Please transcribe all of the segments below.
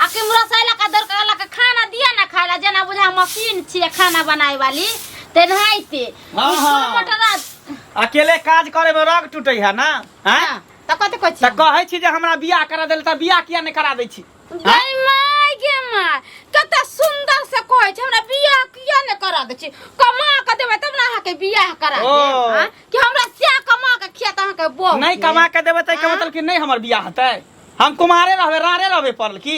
आ के मुरा सैला का दर कहला के खाना दिया ना खाला जना बुझा मशीन छिए खाना बनाए वाली ते नहीं ते हाँ, हाँ। मटर अकेले काज करे में रग टूटे है ना हैं? हां त कते कहै छी तऽ कहै छी जे हमरा बियाह करा देल तऽ बियाह किया नहि करा दै छी गई माय गे माय कते सुंदर से कहै छै हमरा बियाह किया ने करा दै छी कमा के देबै तब ने अहाँ के बियाह करा ओ। देब हाँ? कि हमरा से कमा के खिया त अहाँ के बहु नहि कमा के देबै तऽ एकर हाँ। मतलब कि नहि हमर बियाह हेतै हम कुमारे रहबे रारे रहबे पड़ल की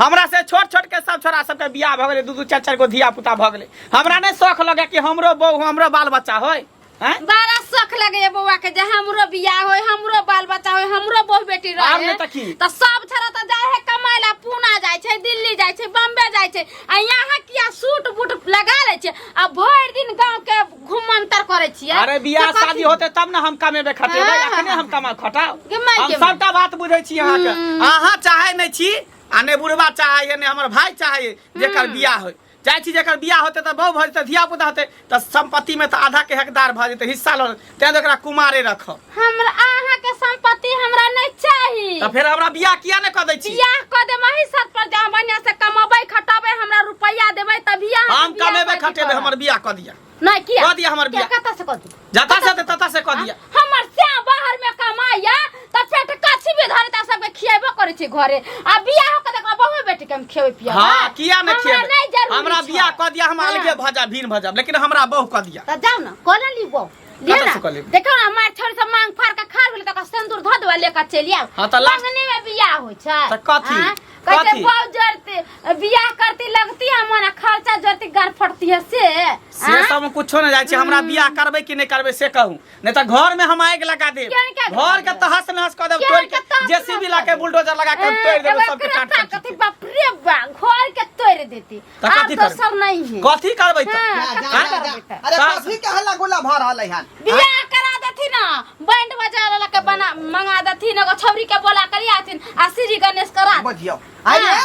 हमरा से छोट छोट के सब छोरा सबके बियाह भऽ गेलै दू दू चारि चारि गो धिया पुता भऽ गेलै हमरा नहि शौक लगे कि हमरो बहू हमरो बाल बच्चा होय हैं बड़ा शौक लगैया बौआ के जे हमरो बियाह होय हमरो बाल बच्चा होय हमरो बहु बेटी आब रहे नहि तऽ की? तऽ सब छोरा तऽ जाय है कमाय ला पूना जाय छै दिल्ली जाय छै बम्बे जाय छै आ यहाँ किया सूट बूट लगा ले छै आ भरि दिन गांव के खूब मंतर करे छिए अरे बियाह शादी होते तब ना हम कमेबे खटेबे हाँ, हाँ, अखने हाँ। हम कमा खटाओ हम सबटा बात बुझे छी अहाँ के हम्म। अहाँ चाहे नै छी आ ने बुढ़वा चाहे ने हमर भाई चाहे जेकर हम्म। बियाह होय जाइ छी जेकर बियाह होते त बहु भजते धिया पुता होते त संपत्ति में त आधा के हकदार भ जेते हिस्सा ल तें ओकरा कुमारे रखब हमरा अहाँ के संपत्ति हमरा नहीं चाहिए तो फिर हमरा बियाह किया ने कर दै छी बियाह क दे मही सत पर जा बढ़िया से कमाबे खटाबे हमरा रुपया देबे त बियाह हम कमेबे खटेबे हमर बियाह कर दिया नहीं किया कह दिया हमर बियाह। कत से कह दी जता से दे, तता से कर दिया हमर से बाहर में कमाया त पेट कथी भी धरे त सबके खियाबे करे छी घरे आ बियाह क देखा बहु बेटी के हम खियाबे पिया हाँ किया ने हमरा नहीं खिया जरूरी हमरा छौ। बियाह कर दिया हम अलगे हाँ। भजा भीन भजा लेकिन हमरा बहु कर दिया त जाओ ना कॉल ली बहु दिया कतऽ ना से कलेब? देखो ना मार छोड़ सब मांग फाड़ के खा गेल तकर सिंदूर धो देवा लेकर चलि आउ हाँ, तऽ लास्ट- मंगनी में बियाह होइ छै तऽ कथी? हाँ? कहते कथी? बाउ जरती बियाह करती लगती है मना खर्चा जरती गार फटती है से से हाँ? सब हम कुछो न जाइ छी हमरा बियाह करबै कि नहि करबै से कहू नहि तऽ घर में हम आगि लगा देब केहन के आगि घर लगा के देब? तहस नहस कऽ देब केहन तोड़ि के के तहस जेसीबी नहस ला कऽ के देब? बुलडोजर लगा के हम तोड़ि देब एगो सबके एकरा काट ताकत काट है, बाप रे बा घर के तोड़ देती त आब कथी कर दोसर नहीं है कथी करबै त हाँ, जा, कथी जा, जा, करबै जा। त? अरे का- कथी के हल्ला गुल्ला भऽ रहलै हन बियाह करा देथिन ना बैंड बजा वाला के बना मंगा देथिन एगो छौरी के बोला करी आथिन आ श्री गणेश करा दे। बुझियो हाँ। अरे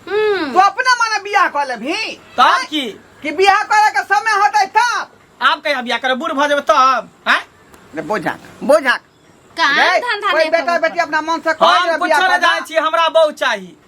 हम्म तू अपने मने बियाह कऽ लेबही तब की कि बियाह करे के समय होतै तब आब कहिया बियाह करब बूढ़ भ जेबै तब हैं ने बुझा बुझा काम धंधा कोई नहीं बेटा करबै। बेटी अपना मन से हम कर कुछ बियाह न करना। जाय छी हमरा बहु चाही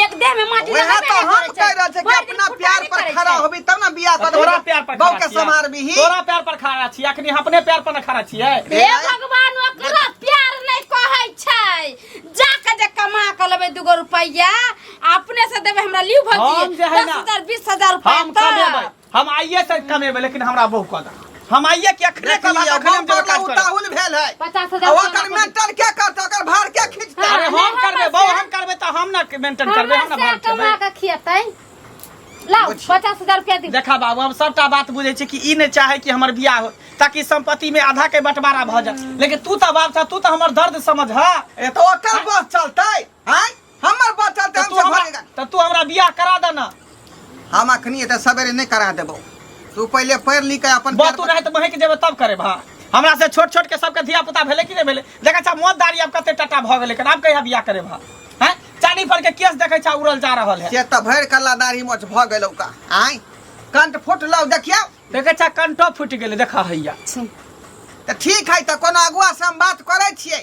एक देह में माटी वह लगाबे तो नहीं हम करे कह रहे थे कि भरि दिन अपना फुटबॉल प्यार नहीं पर करे खड़ा छै। होबी तब ना बियाह कर तोरा प्यार पर बहू खड़ा के छियै। समार भी ही तोरा प्यार पर खड़ा छी अखनी अपने प्यार पर न खड़ा छियै हे भगवान ओकरा प्यार नहीं कहै छै जाके जे कमा के लेबै दूगो रुपैया अपने से देबै हमरा लिउ हम जे भौजी है दस ना, हजार बीस हजार रुपैया हम कमेबै तब हम आइए से कमेबे लेकिन हमरा बहु कह दा हम आइए के अखरे कह दा अखरे हम जगह काज करब उताहुल भेल है पचास आ हजार ओकर मेंटन के करता ओकर भार के खींचता अरे हम हमरा करबे बहु से- हम करबे त हम ना मेंटेन करबे हम ना हमरा भाग से कमा करबे के खियतै लाओ बुझी। पचास हजार रुपया दी देखा बाबू हम सबटा बात बुझे छी कि ई नहीं चाहे कि हमर बियाह हो ताकि संपत्ति में आधा के बंटवारा भ जाए लेकिन तू त बाप छ तू त हमर दर्द समझ हा ए तो ओकर बस चलतै हैं हमर बचल तऽ तू हमरा तऽ तू हमरा बियाह करा दे ना हम अखनी एते सवेरे नहीं करा देबो तू पहले पढ़ लिख के अपन बात तू रहे तो महक जेबे तब करे भा हमरा से छोट छोट के सबके धिया पुता भेले कि नहीं भेले देखा छा मोत दारी अब कते टटा भ गेले कना अब कहिया बियाह करे भा हैं चानी पर के केस देखै छा उड़ल जा रहल है से त भर कल्ला दाढ़ी मोछ भ गेलौ का आय कंठ फुट लौ देखियो देखै छा कंठो फुट गेले देखा हैया त ठीक है त कोनो अगुआ से हम बात करै छियै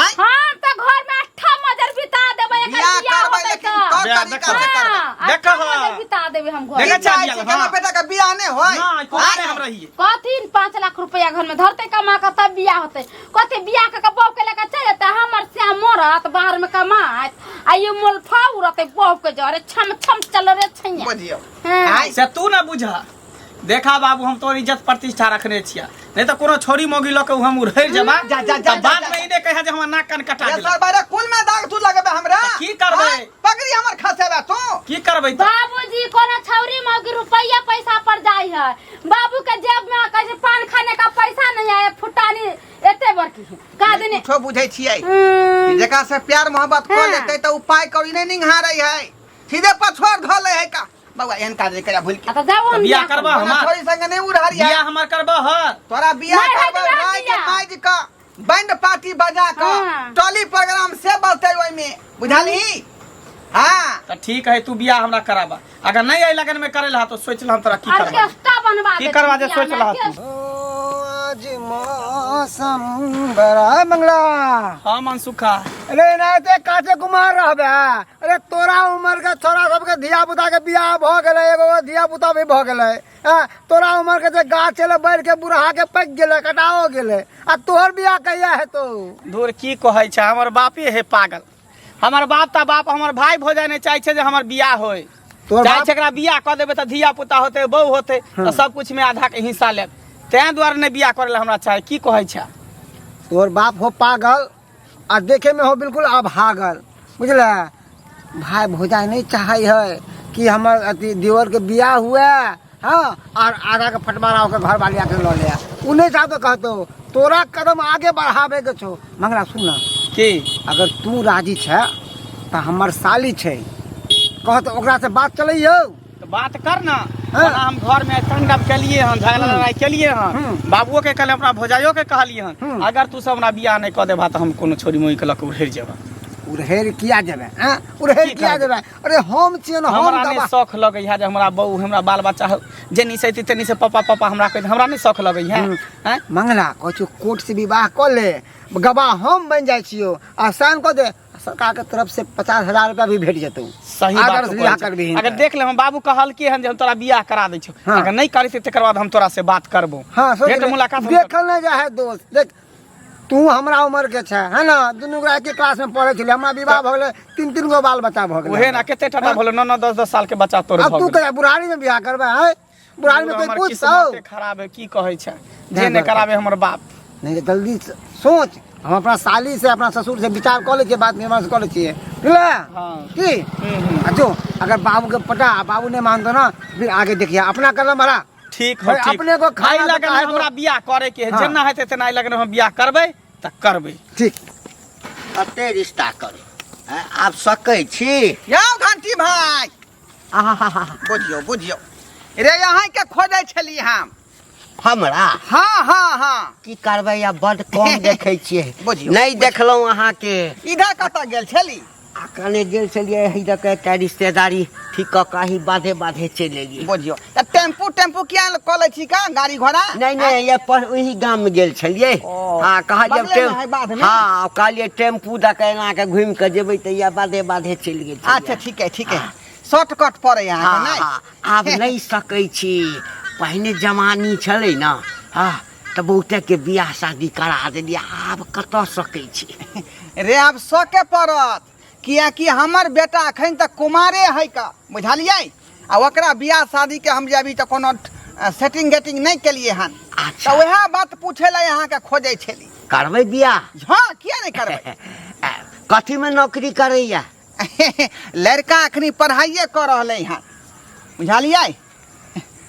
आय हम तो घर में अट्ठा मजर बिता देबे एकर बियाह बियाह करबै होतै लेकिन तो तोर बियाह तरीका से देखबै। करबै हाँ, देखऽ अट्ठा हाँ। मजर बिता देबे हम घर देखऽ में। बियाह चाही छै अलग, केना हाँ। बेटा के बियाह नै होय ना कोना आय, हम रहिए कथिन पाँच लाख रुपया घर में धरते कमा के तब बियाह होते कथी बियाह के के बाप के लेके चल जेते हमर श्याम मरत बाहर में कमात आ ये मोलफा उड़ते बाप के जरे छम छम चल रे छैया बुझियौ हाँ। आय से तू ना बुझा देखा बाबू हम तोर इज्जत प्रतिष्ठा रखने छिया नहीं तो कोनो छोरी मोगी लऽ के हम उड़ैर जेबा जा, जा, जा, तब जा, बाद जा। में ई नहि कहे जे हमर नाक कान कटा ये गेल सर बारे कुल में दाग तू लगबे हमरा तऽ की करबै? हाँ, पगड़ी हमर खसेबे तू की करबै तऽ बाबूजी कोनो छौरी मौगी रुपया पैसा पर जाई है बाबू के जेब में कैसे पान खाने का पैसा नहीं है फुटानी एते बड़की है का देने कुछो बुझे छियै हम्म, जेकरा से प्यार मोहब्बत कर हाँ। लेते तो उपाय कौड़ी नहीं निहारे है सीधे पछोर धो ले है का बाबा एहन काज नहीं करे भूल के आता जाओ हम बियाह करबा तोरा हमार थोड़ी संग नहीं उड़हर बियाह यार हमार करबा ह तोरा बियाह नहीं, करबा नहीं, भाई के बियाह। माइज का बैंड पार्टी बजा का हाँ। टोली प्रोग्राम से बजते ओइ में बुझाली हां तो ठीक है तू बियाह हमरा कराबा अगर नहीं आई लगन में करे ला तो सोच ला हम तोरा की करबा ऑर्केस्ट्रा बनवा की दे करवा दे, सोच रहा तू। आज मौसम बड़ा मंगला हाँ मनसुखा अरे ना ते काचे कुमार रहबे अरे तोरा उम्र के छोरा सबके धिया पुता के बियाह भ गेले एगो एगो धिया पुता भी भ गेले हैं? तोरा उम्र के जे गाछ चले बैर के बुढ़ा के पक गेले कटाओ गेले आ तोहर बियाह कहिया हेतो धूर की कहै छै हमर बापे हे पागल हमर बाप ता बाप हमर भाई भोजाइ नहि चाहै छै जे हमर बियाह होय तोहर चाहै बाप- छै एकरा बियाह कऽ देबै तऽ धिया पुता होतै बहू होतै तऽ सब कुछ मे आधा के हिस्सा लेत तें दुआरे नहि बियाह करै लए हमरा चाहै की कहै छै तोहर बाप हो पागल आ देखे में हो बिल्कुल अभागल बुझल भाई भौजाई नहीं चाहे है कि हमर अथी देवर के बियाह हुए हाँ और आगा के फटमारा होकर घर वाली आके लऽ लिया उ नहीं जाबे कहतो तोरा कदम आगे बढ़ावे के छो मंगला सुन ना की अगर तू राजी छै तऽ हमर साली छै कहत ओकरा से बात चलै यौ तो बात कर ना हाँ। बड़ा हम घर में तांडव के लिए हन झगड़ा हम्म। लड़ाई के लिए हन हम्म। बाबुओ के कहले अपना भौजाइयो के कहलिए हन हम्म। अगर तू सब हमरा बियाह नहीं कर देबा तो हम कोनो छोरी मोई के लक उड़ेर जेबा उरहेर किया देबे हाँ उरहेर की किया कहबे? देबे अरे हम छियै न हम हमरा नहीं दबा शौक लगे है जे हमरा बहू हमरा बाल बच्चा हो जेनी से तेनी से पापा पापा हमरा कह हमरा नहीं शौक लगे है हम्म। हैं? मंगला कहै छियौ कोर्ट से विवाह कऽ ले गवाह हम बनि जाइ छियौ आसान कऽ दे सरकार के तरफ से पचास हजार रुपया भी भेट जेतौ सही अगर बात तू बियाह कहै छे। करबिही अगर तऽ। देख ले हम बाबू कहलके हन जे हम तोरा बियाह करा दै छौ हाँ। अगर नहीं करी तकर बाद हम तोरा से बात करबो हाँ सोच भेंट ले। मुलाकात हम करबो। देखल ना जा है दोस्त देख तू हमरा उम्र के छै है ना दुनू गोरा के क्लास में पढ़े छलियै हमरा विवाह भऽ गेलै तीन तीन गो बाल बच्चा भऽ गेलै उहे ना केते टाटा भलो नौ नौ दस दस साल के बच्चा तोर अब भऽ तू गेल। कहिया बुढ़ारी में बियाह करबै हैं बुढ़ारी में पूरा कोई हमर पूछ किस्मत सौ से खराब है की कहै छै जे नहि कराबे हमर बाप नहीं तो जल्दी से सोच हम अपना साली से अपना ससुर से विचार कऽ लै छियै बात विमर्श कऽ लै छियै बुझले हाँ। की हम्म, हम्म। आ जो अगर बाबू के पटा आ बाबू नहीं मानतो ना फिर आगे देखिए अपना कदम हरा ठीक हो भाई, ठीक अपने को खाना एहि लऽ तऽ कऽ काहे को- हमरा बियाह करे के है हाँ। जेना हेतै तेना एहि लऽ कऽ हम बियाह करबै तऽ करबै ठीक कते रिश्ता करू हैं? आब सकै छी यौ घंटी भाई बुझियौ बुझियौ रे अहाँ के खोजै छली हम हमरा हाँ हाँ हाँ की करबै या बड कम देखै छियै बुझियौ, नहि देखलहुँ अहाँके इधर कतऽ गेल छली आ कने गेल छलियै इधर के एकटा रिश्तेदारी ठीक कऽ कऽ अही बाधे बाधे चलि एलियै बुझियौ तऽ टेम्पू टेम्पू किया ने कऽ लै छी का गाड़ी घोड़ा नहीं नहीं ये पर वही गांव में गेल छलिए ओ, हां कहलिए बगले में है बाध में? हां कहलिए टेम्पू द के एना के घूम के जेबे त या बाधे बाधे चल गेल छलिए। अच्छा ठीक है ठीक है शॉर्टकट पड़े यहाँ हाँ, नहीं हाँ, आब नहीं सकै छी पहिने जवानी छलै ने हाँ तऽ बहुते के बियाह शादी करा देलियै आब कतऽ सकै छी रे आब सके पड़त किएकि हमर बेटा एखन तक कुमारे है का बुझलियै आ ओकरा बियाह शादीके हम जे अभी तऽ कोनो सेटिंग गेटिंग नहि केलियै हन अच्छा। तऽ उएह बात पूछे लए अहाँके खोजै छली करबै बियाह हँ किया नहि करबै आ, कथीमे नौकरी करैया लड़का एखनी पढ़ाइए कऽ रहलै हन बुझलियै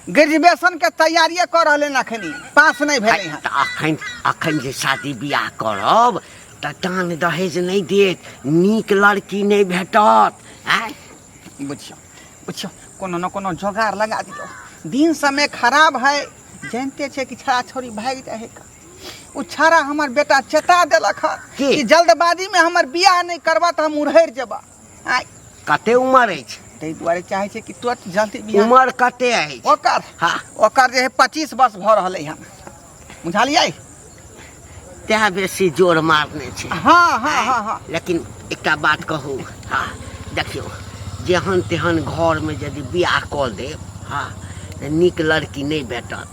ग्रेजुएशन के तैयारिए कर रहले हैं अखनी पास नहीं भेले हैं तऽ अखन अखन जे शादी बियाह करब तऽ दान दहेज नहि देत नीक लड़की नहि भेटत आँय बुझियो बुझियो कोनो न कोनो जोगाड़ लगा दियो दिन समय खराब है जानते छे कि छड़ा छोड़ी भागि जाए है का। उ छड़ा हमर बेटा चेता देलक है के? कि जल्दबाजी में हमर बियाह नहीं करबा तो हम उड़हर जेबा आइ कते उमर अछि ताहि दुआरे चाहै छै कि तुरंत जल्दी बियाह उमर कते अछि ओकर हाँ ओकर जे है पच्चीस वर्ष भऽ रहल है बुझलियै तैं बेसी जोर मारने छै हाँ हाँ हाँ हाँ लेकिन एकटा बात कहू हाँ देखियौ जेहन तेहन घरमे यदि बियाह कऽ देब हाँ तऽ नीक लड़की नहि भेटत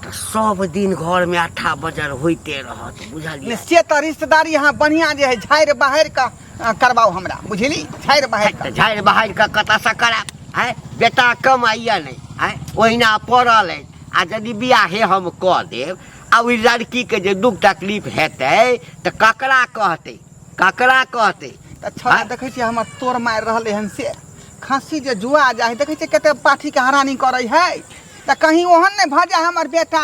तऽ सब दिन घरमे अट्ठा बजर होइते रहत बुझलियै से तऽ रिश्तेदारी अहाँ बढ़िआँ जे है झाड़ि बहारि कऽ अहाँ करबाउ हमरा बुझली झाड़ि बहारि कऽ झाड़ि बहारि कऽ कतऽसँ करायब आँय बेटा कमाइए नहि आँय ओहिना पड़ल अछि आ यदि बियाहे हम कऽ देब आ ओहि लड़कीके जे दुख तकलीफ हेतै तऽ ककरा कहतै ककरा कहतै तऽ छौड़ा आँय? देखै छियै हमर तोर मारि रहल एहन से खस्सी जे जुआ जाइ देखै छियै कते पाठीके हरानी करै है तऽ कहीं ओहन नहि भऽ जाय हमर बेटा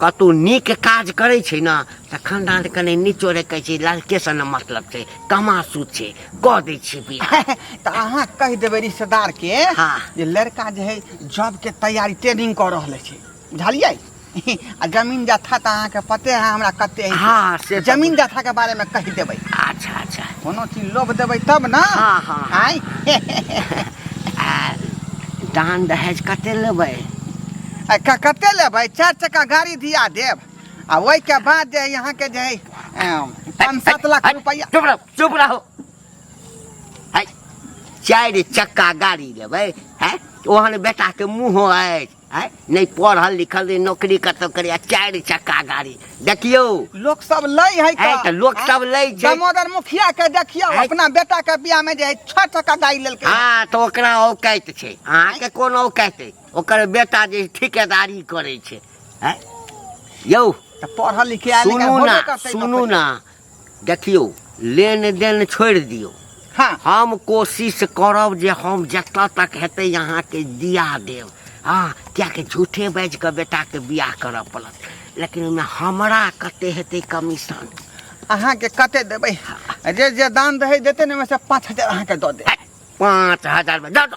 कतौ नीक काज करै छै ने तऽ खानदान कने निचोड़े कहै छै लड़के से ने मतलब छै कमासू छै कऽ दै छै बियाह तऽ अहाँ कहि देबै रिश्तेदार के हाँ। जे लड़का जे है जॉब के तैयारी ट्रेनिंग कऽ रहल छै बुझलियै आ जमीन जथा तऽ अहाँके पते है हमरा कते है हाँ, से तऽ जमीन जथा के बारे में कहि देबै अच्छा अच्छा कोनो चीज लोभ देबै तब ने हाँ, हाँ। आँय? आ दान दहेज कते लेबै आ क- कते लेबै चार चक्का गाड़ी दिया देब आ ओहि के बाद जे है यहाँ के जे है अम, पाँच सात लाख रुपया चुप रहो चुप रहो है चारि चक्का गाड़ी लेबै है ओहन बेटा के मुँह अछि है नहि पढ़ल लिखल नहि नौकरी कतौ करी आ चारि चक्का गाड़ी देखियौ लोक सब लै है है तऽ लोक सब लै छै। दामोदर मुखिया के देखियो है। अपना बेटा के बियाह में जे है छह टका गाड़ी लेलकै हाँ तऽ ओकरा औकाइत छै अहाँके कोन औकाइत अछि ओकर बेटा जे ठेकेदारी करै छै हैं यौ तऽ पढ़ल लिखे आयल सुनू होबे ना करतै सुनू नौकरी। ना देखियौ लेन देन छोड़ि दियौ हाँ हम कोशिश करब जे हम जतऽ तक हेतै अहाँके दिया देब हँ किएकि झूठे बाजि कऽ बेटाके बियाह करऽ पड़त लेकिन ओहिमे हमरा कते हेतै कमीशन अहाँके कते देबै जे जे दान रहै देतै ने ओहिमे से पाँच हजार अहाँके दऽ देब पाँच हजार दऽ दऽ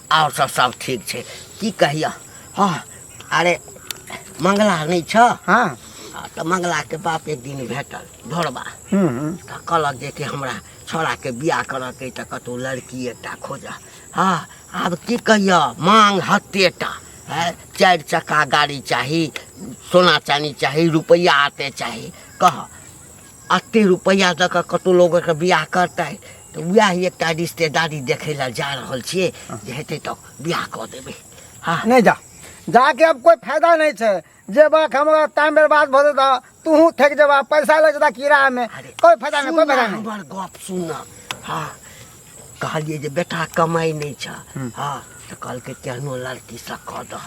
आओर सब सब ठीक छै की कहियऽ हँ अरे मंगला नहि छऽ हँ आ तऽ मंगलाके बाप एक दिन भेटल ढोरबा हूँ हूँ तऽ कहलक जे कि हमरा छौड़ाके बियाह करऽके अइ तऽ कतहु लड़की एकटा खोजऽ हँ आब की कहियऽ मांग हत्तेटा है चारि चक्का गाड़ी चाही सोना चानी चाही रुपैआ आते चाही कह एतेक रुपैआ दऽ कऽ कतहु लोकके बिआह करतै तऽ उएह एकटा रिश्तेदारी देखै लए जा रहल छियै जे हेतै तऽ बिआह कऽ देबै हँ नहि जा जाके अब कोई फायदा नहीं छे जे बात हमरा टाइम बर्बाद भऽ जेता तू थक जेबा पैसा लग जेता किराया में कोई फायदा नहीं कोई फायदा नहीं हमर गप सुन हँ कहलियै जे बेटा कमाइ नहि छ हँ तऽ कहलकै केहनो लड़कीसँ कऽ दह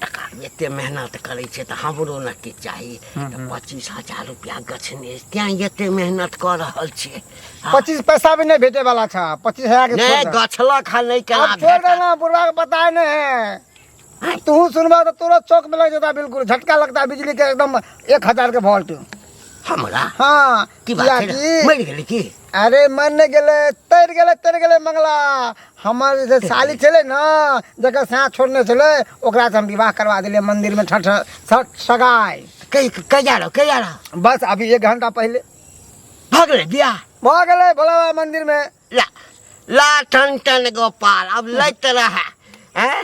टका एते मेहनत करै छै तऽ हमरो ने किछु चाही तऽ पच्चीस हजार रुपया गछने अछि। तैं एते मेहनत कऽ रहल छियै हँ। पच्चीस पैसा भी नहि भेटे वाला छ पच्चीस हजार के नहि छोड़ दे। गछलक हँ नहि केना आब छोड़ भेटत? देना बुढ़वा के पता नहीं है तू सुनबा तो तोरा चौक में लग जाता बिल्कुल झटका लगता बिजली के एकदम एक हजार के वोल्ट हमरा हाँ की बात कियाकि- है मर गेली की अरे मन ने गेले तर गेले तर गेले मंगला हमार जे साली छले ना जकर साथ छोड़ने छले ओकरा से हम विवाह करवा दिले मंदिर में ठठ ठठ सगाई कई कई जा रहो कई जा रहो बस अभी एक घंटा पहले भाग ले बिया भऽ गेलै भोला बाबा मंदिर में ला ला टन टन गोपाल अब लैत रहा हैं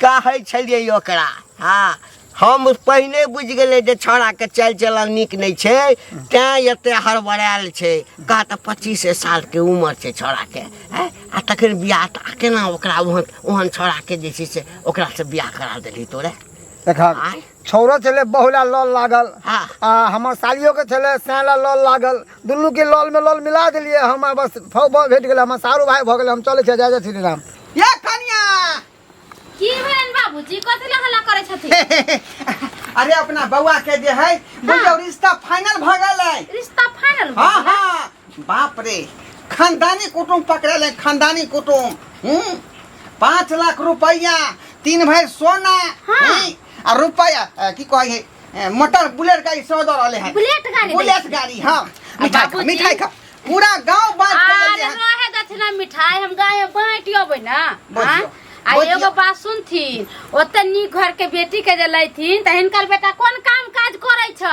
कहै छलियै ओकरा हाँ हम पहिने बुझि गेलै जे छौड़ाके चालि चलन नीक नहि छै तैँ एते हड़बड़ायल छै कह तऽ पच्चीसे सालके उमर छै छौड़ाके हैं आ तखन बियाह तऽ आ केना ओकरा ओहन ओहन छौड़ाके जे छै से ओकरासँ बियाह करा देली तोरे देखा आँय छौरो छलै बहुला लल लागल हाँ। आ हमर सालियो के छलै सैला लल लागल दुनू के लल में लल मिला देलिए हम बस फौ फौ भेट गेल हमर सारू भाई भऽ गेल हम चलै छियै जय जय श्री राम ये कनिया की भेलन बाबूजी कथी ला हल्ला करै छथि अरे अपना बउआ के जे है बुझियो रिश्ता फाइनल भ गेल है रिश्ता फाइनल हाँ हाँ बाप रे खानदानी कुटुम पकड़े खानदानी कुटुम हम्म? पाँच लाख रुपया तीन भाई सोना हाँ। हम्म? आ रुपया अ, की कहे है अ, मोटर बुलेट गाड़ी सौ दो रहले हैं बुलेट गाड़ी दे। बुलेट गाड़ी हाँ मिठाई खा बाबूजी। मिठाई खा पूरा गांव बात आर करेले हैं रहे दक्षिणा मिठाई हम गाय बाँट अबै न बुझियो, हाँ? आ बुझियो। एगो बात सुनथिन ओते नीक घर के बेटी के जे लैथिन त हिनकर बेटा कोन काम काज करै छ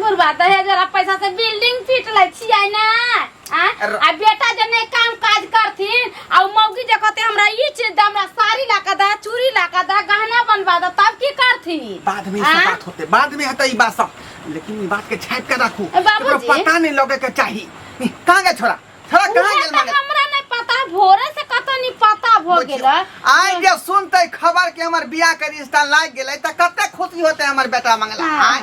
मुर्गा दहेज वाला पैसा से बिल्डिंग पीट लै छियै ना आ अर- आ बेटा जे नहीं काम काज करथिन आ उ मौगी जे कहते हमरा ई चीज दे हमरा साड़ी ला के दे चूड़ी ला के दे गहना बनवा दे तब की करथिन बाद में ई आ? सब बात होते बाद में हेतै ई बात सब लेकिन ई बात के छाप के राखू ए, बाबूजी। एकरो पता नहीं लगे के चाही ई, कहाँ गए छोरा छोरा कहाँ उहे गेल त माने हमरा नहीं पता भोरे से कतो नहीं पता भ गेल आइ जे सुनते खबर के हमर बियाह के रिश्ता लाग गेलै त कते खुशी होते हमर बेटा मंगला हाँ। आइ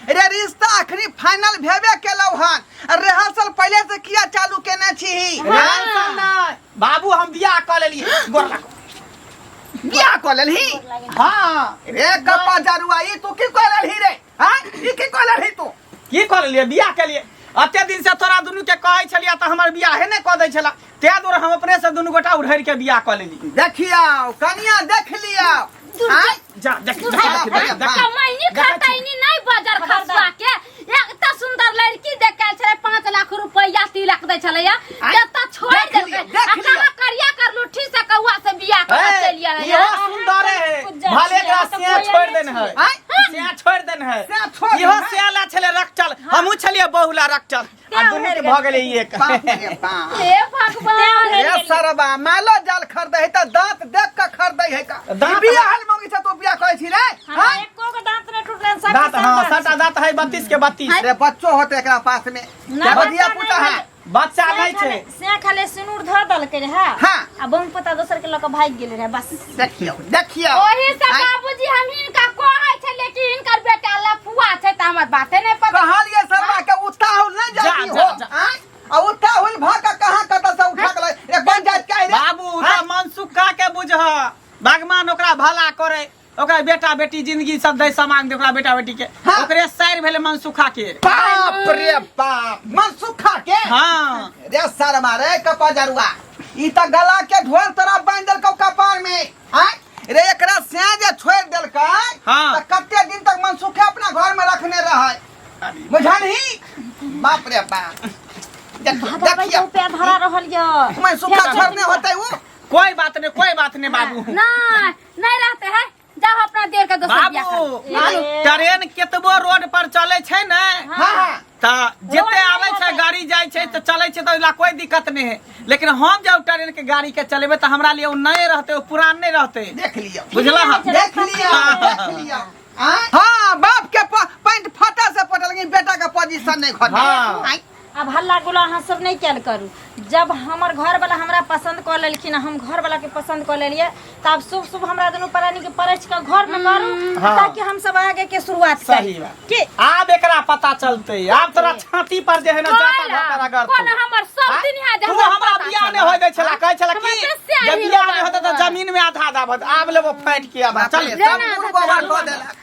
रे रिश्ता अखनी फाइनल भेबे केलौ हन रिहर्सल पहले से किया चालू केने छी रिहर्सल नै बाबू हम बियाह क लेली गोर लागो बियाह क लेली हां रे कपा जरुआ ई तू की क लेली रे हां ई की क लेली तू की क लेली बियाह के लिए अते दिन से तोरा दुनु के कहै छलिया त हमर बियाह हे नै क दै छला तै दुआरे हम अपने से दुनू गोटा उड़हरि के बियाह कऽ लेली देखिया कनिया देख लिया आय जा देख देख, सुधार देख, भैया, देख, देख। कमाइनी देखै छी। खटाइनी नहीं बाजार खर्चा के एकटा सुंदर लड़की देखे छले 5 लाख रुपया तिलक दे छले या आय, जता छोड़ देख देलके लिअ, देख आ लिअ। कहाँ करिया कर लुठी से कौआ से बियाह कर ए, चलिया रे इहो यार। सुंदर है कुछ जान भले लिया, एकरा तो सेया कोई छोड़ नहीं देन है छियै। आय सेया छोड़ देन है सेया छोड़ देन इहो है। सेया ला छले रख चल हमहू छलिए बहुला रख चल आ दुनू के भऽ गेलै ई एक बाप रे बाप हे भगवान ए सरबा मालो जाल खरीदै है त दांत देख के खरीदै है का दांत- बिया हल मंगी छ तो बिया कहै छी रे हमरा हाँ? एको के दांत ने टूटलन सब दांत के हाँ सब सटा दांत है बत्तीस के बत्तीस रे बच्चो होते एकरा पास में ना, बदिया बच्चा पुता नहीं है बच्चा नहीं छै से खाली सिनूर धर देलकै रहे हाँ। आ बम पता दोसर के लक भाग गेल रहे बस देखियो देखियो ओही से आइ- बाबूजी हम हिनका कहै छै लेकिन हिनकर बेटा लफुआ छै त हमर बाते नै पता कहलिए सरवा के उताहुल नहीं जा, जल्दी जा, हो जा। आय? आ उताहुल भ के कहां कत से उठा गेलै एक पंचायत के रे बाबू उ त मनसुखा के बुझह भगवान ओकरा भला करे ओकर बेटा बेटी जिंदगी सब दै सामान दे ओकरा बेटा बेटी के हाँ। ओकरे साइर भेले मनसुखा के बाप रे बाप मनसुखा के हाँ रे सर मारे कपा जरुआ ई त गला के ढोल तरह बांध देलकौ कपार में आय रे एकरा से जे छोड़ देलकै हाँ। त कते दिन तक मनसुखे अपना घर में रखने रहै बुझलही बाप रे बाप देख- बाबा भाई देखिए, के ऊपर धरा रहल यऽ मनसुखा छोड़ने होतै उ कोई बात नहीं कोई बात नहीं बाबू ना नहीं रहते है जाओ अपना देर का दोस्त बियाह बाबू कर बाबू, ट्रेन केतबो रोड पर चले छै ने हाँ हाँ त जते रोड आवे नहीं छै होतै। गाड़ी जाय छै त चले छै त ओइला कोई दिक्कत नहीं है लेकिन हम जब ट्रेन के गाड़ी के चलेबे त हमरा लिए उ नए रहते उ पुरान नहीं रहते देख लिया बुझला हाँ। देख लिया देख लिया आँय? हाँ बाप के प- पैंट फटा से पटल लेकिन बेटा के पोजीशन नहीं घटल हाँ। आँय? अब हल्ला गुला अहाँ सब नहीं कल करू जब हमर घर वाला हमरा पसंद कर लेलखिन हम घर वाला के पसंद कर लेलिए तो अब शुभ शुभ हमरा दोनों प्राणी के परच के घर में करू हाँ। ताकि हम सब आगे के शुरुआत सही करी बा। के आब एकरा पता चलते आब तोरा छाती पर जे है ना जाता जाता रगड़ कोन हमर सब आँय? दिन यहाँ तू जहाँ हमरा पता बियाह ने चलल। होय दै छला कहै छला हमरा कि से स्याही जे बियाह ने होता होता तऽ है। जमीन में आधा आधा भत आब लेबो फाटि के आधा चल ले ना, सब आधा गुड़ गोबर चल। कऽ देलक